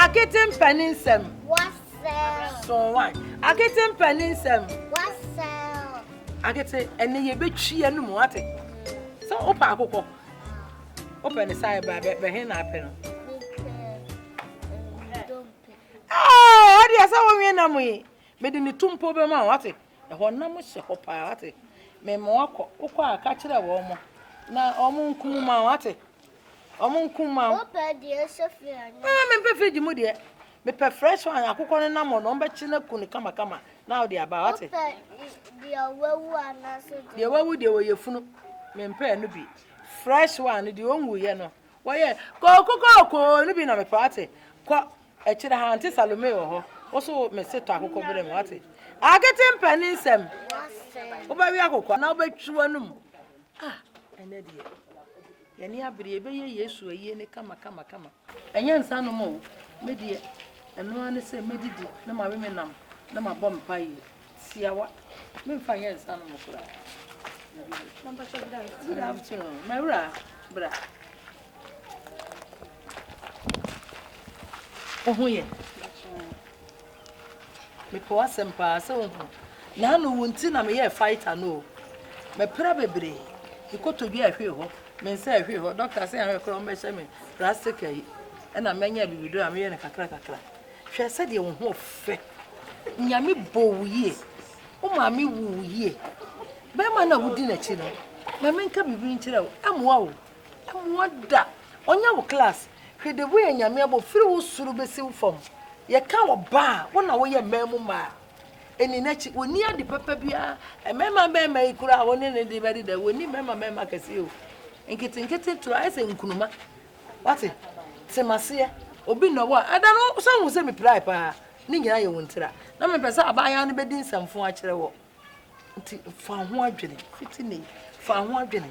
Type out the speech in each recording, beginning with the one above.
Akete mpɛ ne nsɛm. Sonwan. Akete mpɛ ne nsɛm. Akete ɛnɛ yɛbɛtwi yɛ no mu ate sɛ wopɛ akokɔ wopɛ ne saa ɛbra bɛhe na apɛ no ɛdeɛ sɛ wonwe nam yi mede ne to mpo bɛma wo ate ɛhɔ nam hyɛ hɔ paa ate mema wakɔ wokɔ a ka kyerɛ wɔ mo na ɔmo nkumu ma wo ate Ɔmo nko ma wo. Wopɛ deɛ ɛhyɛ firi anaa? Ɛɛ mempɛ firigye mu deɛ. Mepɛ fresh one akokɔ no nam hɔ no ɔmbɛkye no aku no kamakama na wode aba wate. Wopɛ deɛ wawu anaasɛ deɛ. Deɛ wawu deɛ wɔyɛ funu. Mempɛ ɛno bi. Fresh one no deɛ ɔnwuiɛ no wɔyɛ kooko kooko no bi na mepɛ wate. Kɔ akyire ha nte Salome wɔ hɔ. Wo so mese tɔ akokɔ berɛ mu wate. Akete mpɛ ne nsɛm. Wobɛwe akokɔ na wobɛtwi w'anum. Ah, ɛnɛ deɛ, yɛne abere yɛbɛyɛ Yesu ayie ne kama kama kama. Ɛnyɛ nsa nom o, me deɛ, ɛno ara ne sɛ mɛdidi na mawe me nam na mabɔ mpaeɛ. Siawa, memfa nyɛ nsa nom koraa. Good afternoon, mawura, bra. Wo ho yɛ? Mepɛ w'asɛm paa sɛ wohu. Naano wo nti na meyɛɛ fighter no o. Mepra bebree. Me kotodwe a ɛhwee hɔ, me nsa a ɛhwee hɔ, doctor sɛ ahwɛ koraa wɔmmɛhyɛ me plastic ayi. Ɛna manya bibiduro a meyɛ no kakra kakra. Hwɛ sɛdeɛ wo ho fɛ. Nyame bɔ wo yie. Wo maame wu wo yie. Bɛrima no a wodi n'akyi no, ma menka biribi nkyerɛ wo, ɛmmoa wo. Mmoa da, ɔnyɛ wo class. Hwɛ de woyɛ nyame abɔ firi wo soro bɛsi wo fam yɛ ka wɔ ba a wo na woyɛ mmaa mu mmaa ɛni n'akyi ɔni ade papa biara mmarima mmarima yi kura a wɔne ne de bɛde da wɔni mmarima mmarima kɛseɛ o nketenkete toro ayɛ sɛ nkunuma wate temaseɛ obi na wɔ ɛda no sɛ wo sɛ mepirae paa ne nyinaa yɛ wɔn tira na mepɛ sɛ abaayaa no bɛdi nsɛmfo akyerɛ wɔ Nti fa ho adwene fiti ne fa ho adwene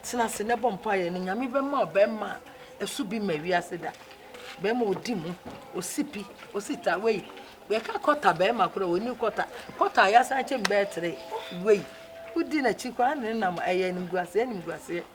tena ase na bɔ mpaeɛ no nyame bɛma ɔbɛma a ɛso bi ma wiase da bɛma ɔdi mu ɔsi pi ɔsi ta wei bɛka kɔta bɛma kora ɔni kɔta kɔta yɛasan kyɛm bɛɛtere wei wodi n'akyi koraa ne nam ɛyɛ animguaseɛ animguaseɛ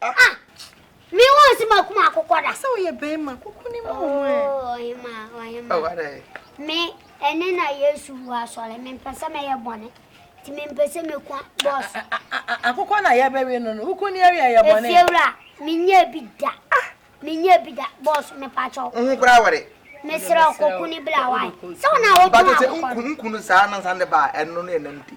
Ah! Me wo se ma kuma akokɔ da. Sɛ oyɛ bɛrima kuku ni mu mu ɛ. Oh, ɔhema, ɔhema. Oh, what Me ɛne na Yesu wu asɔre. Me mpɛ sɛ mɛyɛ bɔne. Ti me mpɛ sɛ mekwa bɔs. Akokɔ na yɛ bɛwe no no. Kuku ni ɛwi ɛyɛ bɔne. Efiewura, me nyɛ bi da. Me nyɛ bi da. Bɔs, me pakyɛw. Nhu kura wɔre. mesrɛ kɔku ne bra wae sɛ wo na wotɔn akokɔ no nkunu saa no nsa ne baa ɛno ne ɛnam di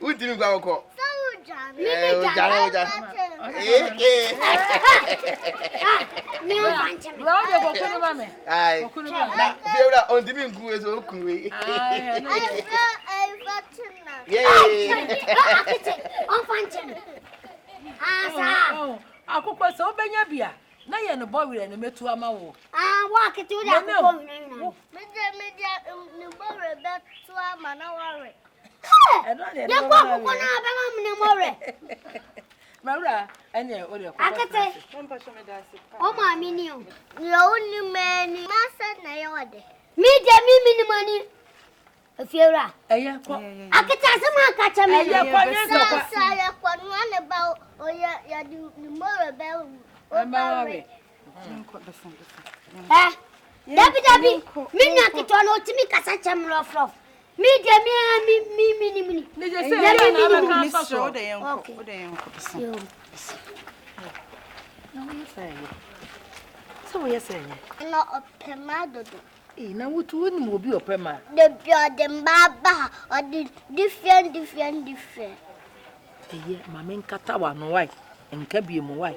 wontumi nkɔ akɔkɔ fiewura ɔntumi nku wei sɛ ɔku wei akokɔ sɛ wobɛnya bi a na yɛ no bɔ werɛ no mɛtu ama wo ah, woakete wode akokɔ werɛ nyina yɛkɔ akokɔ no a bɛma mene mɔ werɛ akete ɔmaame ni o deɛ wonim ani masɛ na ɛyɛ ɔde me deɛ me menim ani afiewura akete asɛm anka kyɛ me sasa yɛkɔ noa ne ba ɔyɛ yɛde ne mɔ werɛ bɛwo ɔba werɛ ɛ dabidabi me nua ketewa no ɔtumi kasa kyɛ mmorɔforɔ me deɛ memenimni sɛ woyɛ sɛ ɛnyɛ na ɔpɛ ma dodo Ei na wotu wonim obi ɔpɛ ma. Dabi ɔde mma aba ha ɔde different different different. Ɛyɛ ma me nkata wano wae nka bie mu wae.